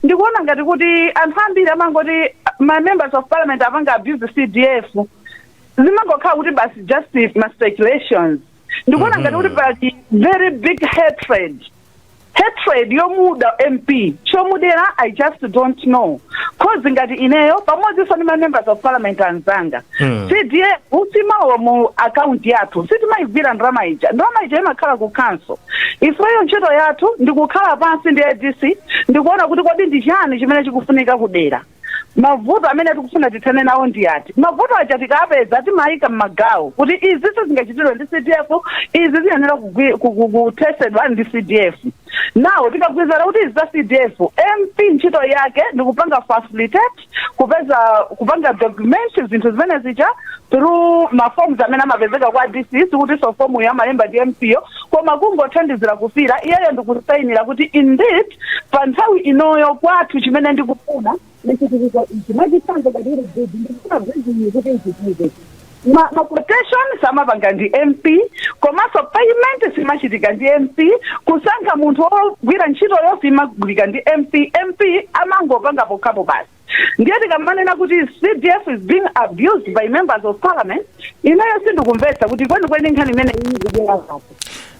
ndikuona ngati kuti anthu ambiri amangoti ma members of parliament apanga abuse cdf zimangokhala kuti basi just ma speculations ndikuona ngati kuti pali very big hatred yomuda mp chomudera i just don't know cause ngati ineyo pamodzinso ndi ma members of parliament anzanga Mm. cdf siimalowa mu akaunti yathu sitimayigwira ndalama ija ndalama ija imakhala ku council ifeyo ntchito yathu ndikukhala pansi ndi adc ndikuona kuti kodi ndi chiyani chimene chikufunika kudera Mavuto amene tikufuna tithane nawo ndi ati? Mavuto aja tikapeza timayika m'magawo kuti izi sizingachitidwe ndi CDF, izi ziyenera kugwi- ku- ku- kuthetsedwa ndi CDF. Now tikagwirizana kuti izi za CDF, MP ntchito yake ndi kupanga facilitate, kupeza kupanga document zinthu zimene zija through ma forms amene amapezeka kwa DC sikutinso form yo amalemba ndi MP yo koma kungothandizira kufira iyeyo ndikusainira kuti indeed pa nthawi inoyo kwathu chimene ndikufuna ndi chimene ichi mwachitsanzo ngati iri bridge ndikufuna bridge iyi kuti ichitike ma ma quotation samapanga ndi mp komanso payment simachitika ndi mp kusankha munthu wogwira ntchitoyo simagwirika ndi mp mp amangopanga pokhapo basi ndiye tikamanena kuti cdf is being abused by members of parliament ineyo sindikumvetsa kuti kwenikweni nkhani imene iyi ikubwera pati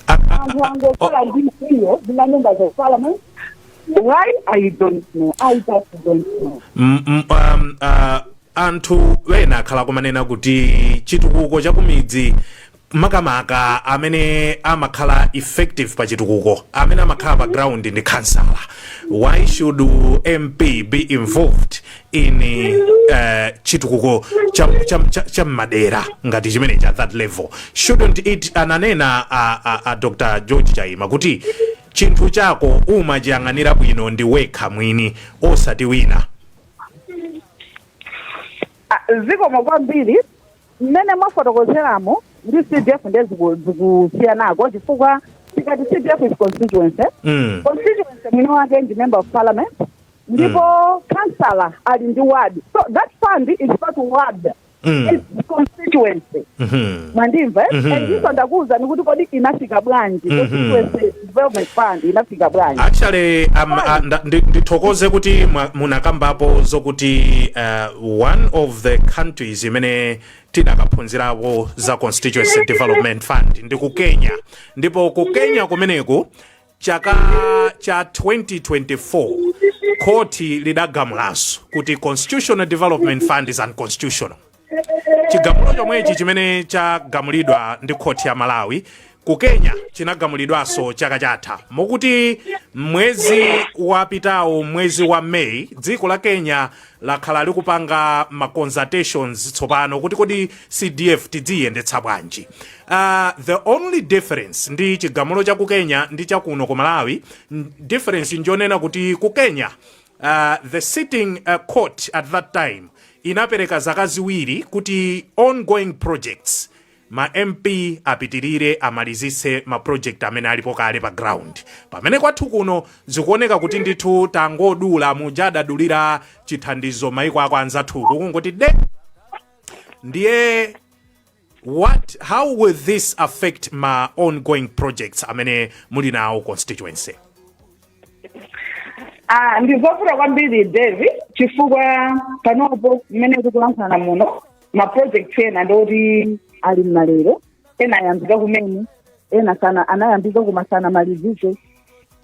anthu angokhala ndi mkwiyo ndi ma members of parliament why i don't know i just don't know M- m- um, uh, anthu ena akhala kumanena kuti chitukuko chakumidzi makamaka amene amakhala effective pa chitukuko amene amakhala pa ground ndi khansala why should mp be involved in uh, chitukuko cha, cha, cha, cha mmadera ngati chimenechi at that level shouldn't it ananena a, a, a dr george chaima kuti chinthu chako umachiyang'anira bwino ndi wekha mwini osati wina Ah, zikomo kwambiri Mmene mwafotokozeramo ndi CDF ndiye ziku- zikusiyanako chifukwa tikati CDF is constituency Mm. constituency mwini wake ndi member of parliament ndipo councillor ali ndi ward so that fund is not ward Mm. it's constituency Mhm. mwandimva eh? Mhm. ndiponso ndakuwuzani kuti kodi inafika bwanji Mhm. constituency development fund inafika bwanji actually um, uh, nda- ndi- ndithokoze kuti mwa- munakambapo zokuti uh, one of the countries imene tinakaphunzirapo za constituency development fund ndi ku kenya ndipo ku kenya kumeneku chaka cha 2024 khoti lidagamulanso kuti constitutional development fund is unconstitutional chigamulo chomwechi chimene chagamulidwa ndi khoti ya malawi ku kenya chinagamulidwanso chaka chatha mokuti mwezi wapitawo mwezi wa may dziko la kenya lakhala likupanga ma consultations tsopano kuti kodi cdf tidziyendetsa bwanji uh, the only difference ndi chigamulo cha ku kenya ndi chakuno ku malawi n- difference njonena kuti ku kenya The sitting court at that time inapereka zaka ziwiri kuti ongoing projects ma MP apitirire amalizitse ma project amene alipo kale pa ground. Pamene kwathu kuno zikuoneka kuti ndithu tangodula muja adadulira chithandizo maiko ako anzathuku kungoti de ndiye how will this affect ma ongoing projects amene muli nawo constituency? Ah, ndizovuta kwambiri Davie chifukwa panopo mmene tikulankhulana muno ma project ena ndoti ali mmalero ena ayambika kumene ena sana anayambika koma sanamalizike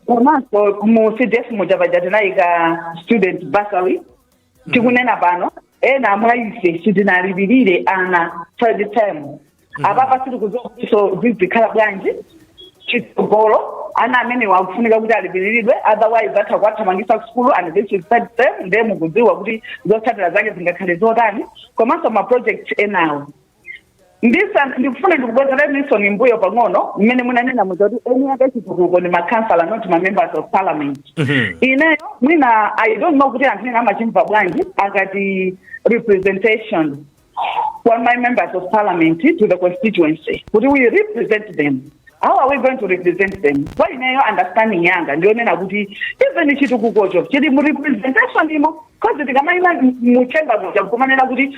komanso mu cdf muja paja tinayika student bursary tikunena pano ena mwa ife sitinalipirire ana third term apapa sitikudziwanso zizikhala bwanji chitsogolo ana amenewa akufunika kuti alipiriridwe otherwise atha kuwathamangitsa kusukulu and this is third term ndiye mukudziwa kuti zotsatira zake zingakhale zotani komanso ma project enawo ndisa ndikufuna ndikubwezereninso mmbuyo pang'ono mmene munanena muja kuti eni ake chitukuko ndi makhansala not ma members of parliament Mhm. ineyo mwina i don't know kuti anthu ena amachimva bwanji akati representation kwa ma members of parliament to the constituency kuti we represent them how are we going to represent them kwa ineyo understanding yanga ndiyonena kuti even chitukukocho chili mu representation imo because tikamayima mu chamber muja kumanena kuti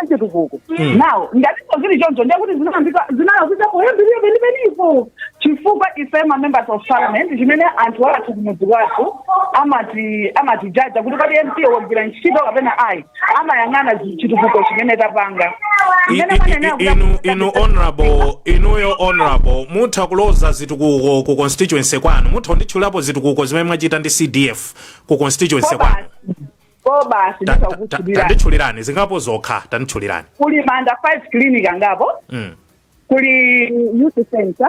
si chitukuko Mm. now ngati zili choncho ndiye kuti zinayambika zinalakwika poyambirira penipenipo chifukwa ife ma members of parliament chimene anthu athu kumudzi wathu amati judge-a kuti kodi mp wagwira ntchito kapena ayi amayang'ana zi- chitukuko chimene tapanga I- Mmene i- mwanenera i- kuti inu akuti- inu honorable inuyo honorable mutha kuloza zitukuko ku constituency kwanu mutha kunditchulapo zitukuko zimene mwachita ndi cdf ku constituency kwanu ko basi Ta- ta- ta- ndakutchulirani tanditchulirani zingapo zokha tanditchulirani kuli manda 5 clinic angapo Mm. kuli youth center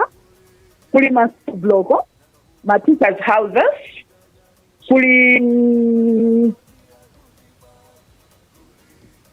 kuli ma school block ma teachers houses kuli mm,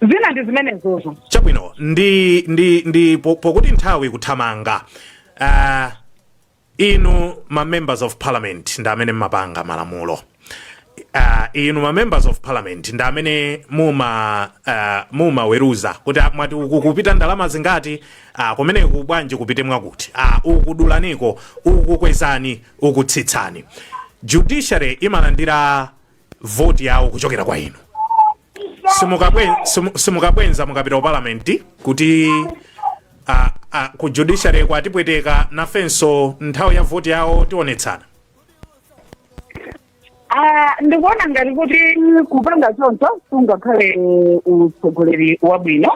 zina ndi zimenezozo chabwino ndi ndi ndi po- pokuti nthawi kuthamanga uh, inu ma members of parliament ndi amene mmapanga malamulo uh, inu ma members of parliament ndi amene muma uh, mumaweruza kuti ah, mwati uku kupita ndalama zingati uh, kumeneku bwanji kupite mwakuti uh, uku dulaniko uku kwezani uku tsitsani judiciary imalandira vote yawo kuchokera kwa inu simukabwe- simu- simukabwenza mukapita ku parliament kuti a, a, ku judiciary kwatipweteka nafenso nthawi ya vote yawo tionetsana Ah, ndikuona ngati kuti kupanga choncho siungakhale utsogoleri wabwino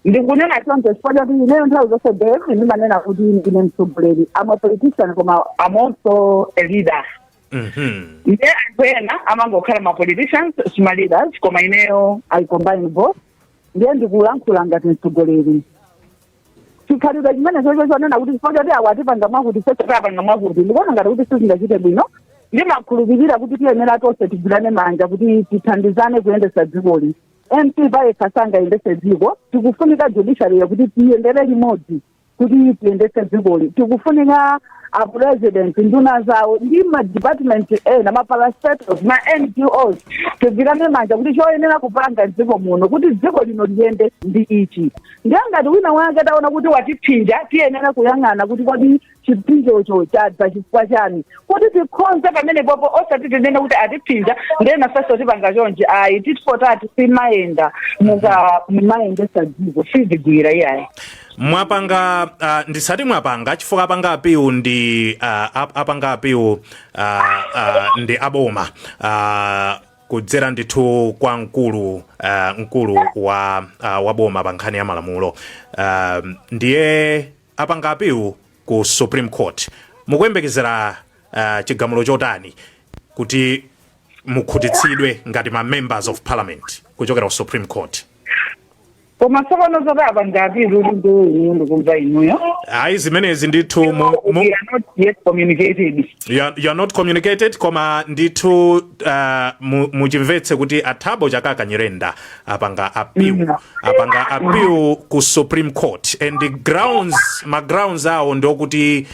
ndikunena choncho chifukwa chakuti ineyo nthawi zonse besi ndimanena kuti ndine mtsogoleri I'm a politician koma I'm also a leader ndiye anthu ena amangokhala ma politicians si ma leaders koma ineyo i combine both ndiye ndikulankhula ngati mtsogoleri chikhalidwe chimene chocho chonena kuti chifukwa choti awa atipanga mwakuti sechoti apanga mwakuti ndikuona ngati kuti sizingachite bwino ndimakhulupirira kuti tiyenera tonse tigwirane manja kuti tithandizane kuyendesa dzikoli mp payekha sangayendese dziko tikufunika judiciary kuti tiyendere limodzi kuti tiyendese dzikoli tikufunika apresident nduna zawo ndi madepartment ena ma parastatals ma ngos tigwirane manja kuti choyenera kupanga mdziko muno kuti dziko lino liyende ndi ichi ndiye ngati wina wake taona kuti watiphinja tiyenera kuyang'ana kuti kodi chiphinjocho chadza chifukwa chani kuti tikhonze pamenepopo osati tinene kuti atiphinja ndiye nafenso tipanga chonje ayi tit for tat simayenda muka mumayendesa dziko sizigwira iyayi mwapanga uh, ndisati mwapanga chifukwa apanga appeal ndi uh, ap- apanga appeal uh, uh, ndi aboma uh, kudzera ndithu kwa mkulu uh, mkulu wa uh, waboma pa nkhani ya malamulo uh, ndiye apanga appeal ku supreme court mukuyembekezera uh, chigamulo chotani kuti mukhutitsidwe ngati ma members of parliament kuchokera ku supreme court koma tsopano zoti apanga appeal kuti ndiwo inu ndikumva inuyo ayi zimenezi ndithu mu, mu, we are not yet communicated you are, you are not communicated koma ndithu uh, mu- muchimvetse kuti a Thabo Chakaka nyirenda apanga appeal Mhm. apanga appeal ku supreme court and the grounds ma grounds awo ndiokuti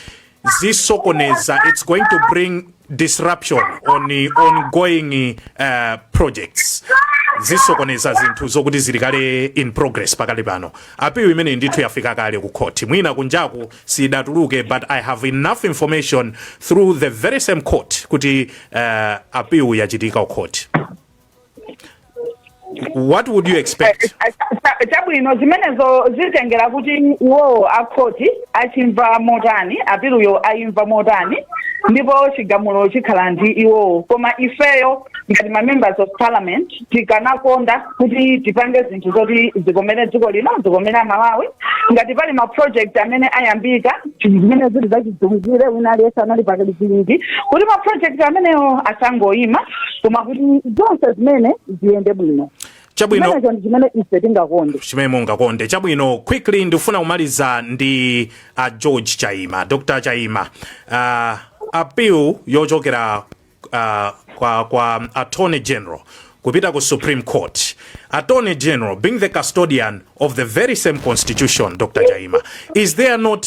zisokoneza it's going to bring disruption on the ongoing uh, projects zisokoneza zinthu zokuti zili kale in progress pakali pano apilu imene ndithu yafika kale ku court mwina kunjaku sidatuluke but i have enough information through the very same court kuti uh, apilu yachitika ku court what would you expect eh, eh, eh, chabwino zimenezo zitengera kuti iwowo akhoti achimva motani apiluyo ayimva motani ndipo chigamulo chikhala ndi iwowo koma ifeyo ngati mamembers of parliament tikanakonda kuti tipange zinthu zoti zikomere dziko lino zikomere amalawi ngati pali ma project amene ayambika zimene zili zachidziwikire wina aliyese anali pakaliziwiki kuti ma project amenewo asangoyima koma kuti zonse zimene ziyende bwino chabwino chimenecho ndi chimene ife tingakonde chimene mungakonde chabwino quickly ndikufuna kumaliza ndi a george chaima dr chaima uh, appeal yochokera uh, kwa, kwa attorney general kupita ku supreme court attorney general being the custodian of the very same constitution dr chaima is there not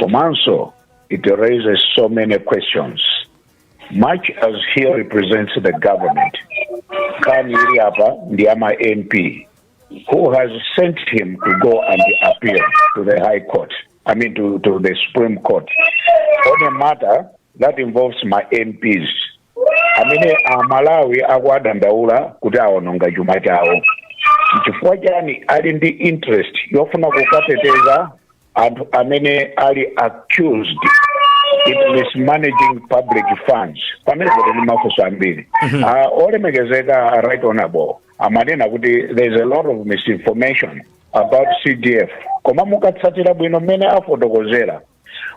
Komanso, it raises so many questions. Much as he represents the government, nkhani ili apa ndi ya ma MP, who has sent him to go and appeal to the High Court, I mean to, to the Supreme Court, on a matter that involves ma MPs. amene amalawi akuwadandaula kuti awononga chuma chawo chifukwa chani ali ndi interest yofuna kukateteza anthu amene ali accused in mismanaging public funds pamenepotu ndi mafunso ambiri Ah, olemekezeka right honorable amanena kuti there is a lot of misinformation about cdf koma mukatsatira bwino mmene afotokozera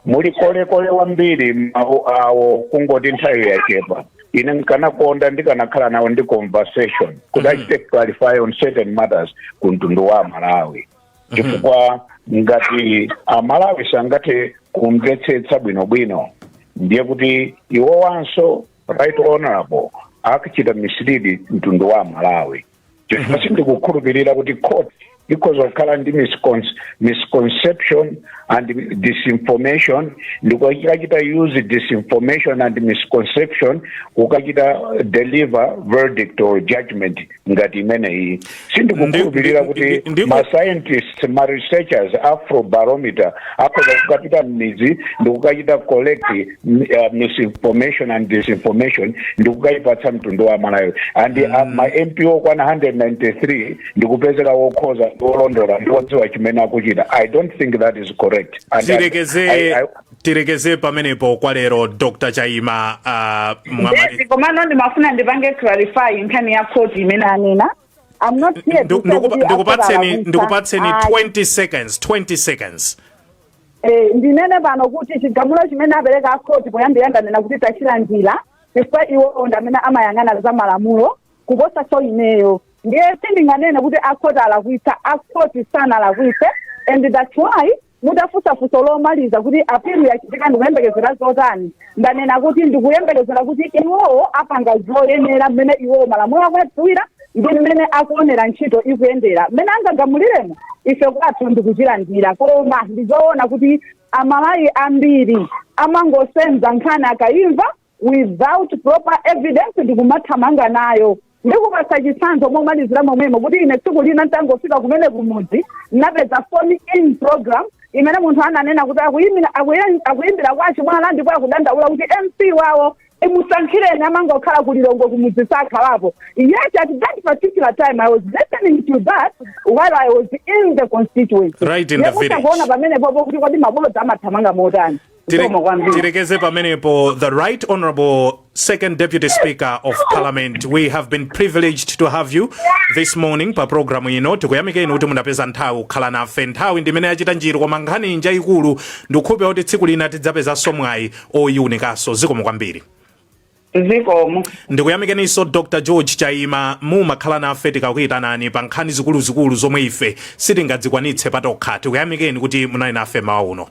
muli kolekole wambiri mawu awo kungoti nthawi yachepa ine nkanakonda ndikanakhala nawo ndi conversation kuti achite clarify on certain matters ku mtundu wa amalawi chifukwa ngati amalawi sangathe kumvetsetsa bwinobwino ndiye kuti iwowanso right honorable akuchita mislead mtundu wa amalawi chifukwa sindikukhulupirira kuti court ikhoza kukhala ndi miscon- misconception and disinformation ndikukachita use disinformation and misconception kukachita deliver verdict or judgment ngati imene iyi sindikukhulupirira Ndi- kuti ndi- ndi- ma scientists ma researchers afrobarometer akhoza kukapita m'midzi ndikukachita collect mm, uh, misinformation and disinformation ndikukayipatsa mtundu wa amalawi and uh, ma mp okwana 193 ndikupezeka wokhoza ndi wolondola ndi wodziwa chimene akuchita i don't think that is correct And I- Tirekeze- I- I- tilekeze pamenepo kwa lero dr chaima uh, mwamali Yes, komano ndimafuna ndipange clarify nkhani ya court imene anena I'm not here to Ndu- say ndikupa- kuti ndikupatseni akubalakwitsa. Ayi. ndikupatseni 20 seconds 20 seconds Eh, ndinene pano kuti chigamulo chimene apereka akhoti poyambira ndanena kuti tachilandira chifukwa iwo ndi amene amayang'ana za malamulo kuposa so ineyo ndiye sindinganene kuti akhoti alakwitsa akhoti sanalakwitse and that's why mutafunsa funso lomaliza kuti apilu yachitika ndikuyembekezera zotani ndanena kuti ndikuyembekezera kuti iwowo apanga zoyenera mmene iwowo malamulo akuwadziwira ndi mmene akuonera ntchito ikuyendera mmene angagamuliremo ife kwathu ndikuchilandira koma ndizoona kuti amalawi ambiri amangosenza nkhani akayimva without proper evidence ndikumathamanga nayo ndikupasa chitsanzo momalizira momwemo kuti ine tsiku lina nditangofika kumene kumudzi ndinapeza phone in program imene munthu ananena kuti akuyimira- akuyi- akuyimbira kwa chimwala ndipo akudandaula kuti mp wawo imusankhireni amangokhala ku lilongwe kumudzi sakhalapo yet at that particular time i was listening to that while i was in the constituency Right in the Ndikuti village. mukuona pamenepopo kuti kodi mabodza amathamanga motani Zikomo kwambiri. Tirekeze pamenepo the right honorable second deputy speaker of parliament we have been privileged to have you this morning pa programu ino tikuyamikeni kuti munapeza nthawi kukhala nafe nthawi ndimene yachita njiru koma nkhani njayikulu ndikhulupirira kuti tsiku lina tidzapezanso mwayi oyiunikanso zikomo kwambiri zikomo ndikuyamikeninso dr george chaima mumakhala nafe tikakuyitanani pa nkhani zikuluzikulu zomwe ife sitingadzikwanitse patokha tikuyamikeni kuti munali nafe mmawa uno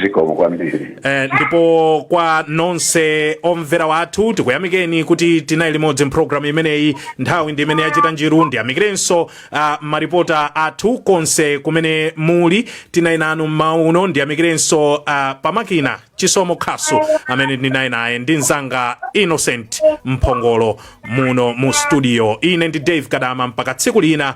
zikomo kwambiri Eh, ndipo kwa nonse omvera wathu tikuyamikeni kuti tinali limodzi mpulogalamu imeneyi nthawi ndi imene yachita njiru ndiyamikirenso ah, maripota athu konse kumene muli tinali nanu mmawa uno ndiyamikirenso ah, pamakina chisomo khasu amene ndinali naye ndi mzanga innocent mphongolo muno mu studio ine ndi dave gadama mpaka tsiku lina